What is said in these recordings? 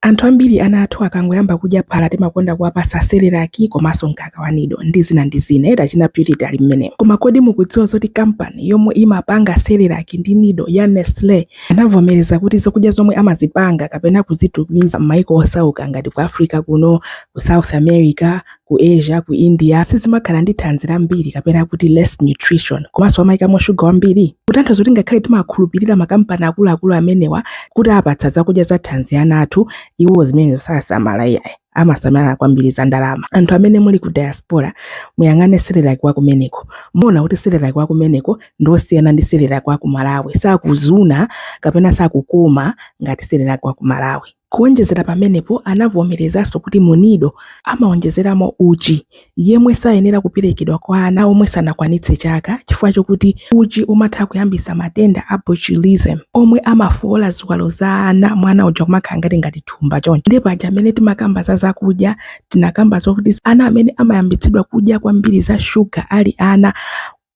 Anthu ambiri ana athu akangoyamba kudya phala timakonda kuwapasa cerelac komanso mkaka wa nido ndi zina ndi zina eti achina purity ali mmenemo koma kodi mukudziwa zoti company yomwe imapanga cerelac ndi nido ya nestle anavomereza kuti zakudya zomwe amazipanga kapena kuzitumiza m'maiko osauka ngati ku africa kuno ku south america ku Asia, ku India sizimakhala ndi thanzi lambiri kapena kuti less nutrition komanso amayikamo shuga wambiri? Kutanthauza zokuti ngakhale timakhulupirira makampani akuluakulu amenewa kuti apatsa zakudya za thanzi ana athu, iwo zimenezo sasamala iyayi amasamala kwambiri za ndalama. Anthu amene muli ku diaspora muyang'ane Cerelac wa kumeneko, muona kuti Cerelac wa kumeneko ndi wosiyana ndi Cerelac wa ku Malawi, sakuzuna kapena sakukoma ngati Cerelac wa ku Malawi. Kuwonjezera pamenepo, anavomerezanso kuti mu Nido amawonjezeramo uchi, yemwe sayenera kuperekedwa kwa ana omwe sanakwanitse chaka chifukwa chokuti uchi umatha kuyambitsa matenda a botulism omwe amafoola ziwalo za ana mwana uja kumakhala ngati ngati thumba choncho. Nde paja mmene timakamba za zakudya tinakamba zokuti ana amene amayambitsidwa kudya kwambiri za sugar ali ana,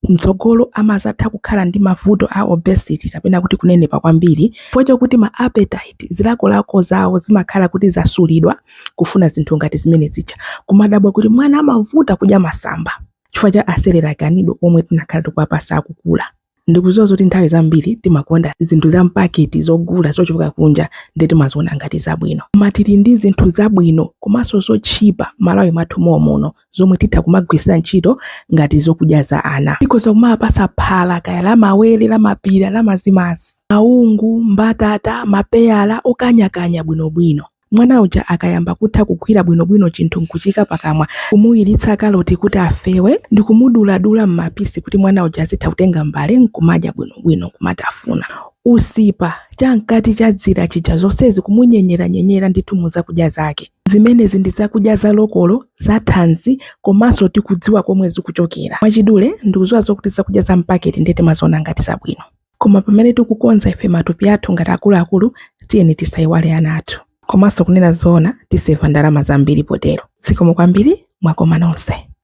M'tsogolo amadzatha kukhala ndi mavuto a obesity kapena kuti kunenepa kwambiri chifukwa chokuti ma appetite, zilakolako zawo zimakhala kuti zasulidwa kufuna zinthu ngati zimene zija. Kumadabwa kuti mwana amavuta kudya masamba chifukwa cha a Cerelac a Nido omwe tinakhala tikuwapatsa akukula. Ndikudziwa zoti nthawi zambiri timakonda zinthu za m'paketi zogula zochoka kunja ndiye timaziona ngati zabwino. Koma tili ndi zinthu zabwino komanso zotchipa m'Malawi mwathu mom'muno. zomwe titha kumagwirisira ntchito ngati zokudya za ana tikhoza kumawapasa phala kaya la mawere la mapira la mazimazi maungu mbatata mapeyala okanyakanya bwinobwino mwana uja akayamba kutha kugwira bwinobwino chinthu nkuchiika pakamwa kumuwiritsa kaloti kuti afewe ndi kumuduladula m'mapisi kuti mwana uja azitha kutenga mbale nkumadya bwinobwino kumatafuna usipa chamkati cha dzira chija zonsezi kumunyenyeranyenyera ndithu muzakudya zake Zimenezi ndi zakudya za lokolo, za thanzi, komanso tikudziwa komwe zikuchokera. Mwachidule, ndikudziwa zokuti zakudya za mpaketi ndiye timaziona ngati zabwino. Koma pamene tikukonza ife matupi athu ngati akuluakulu, tiyeni tisaiwale ana athu. Komanso kunena zoona, tiseva ndalama zambiri potero. Zikomo kwambiri, mwakoma nonse.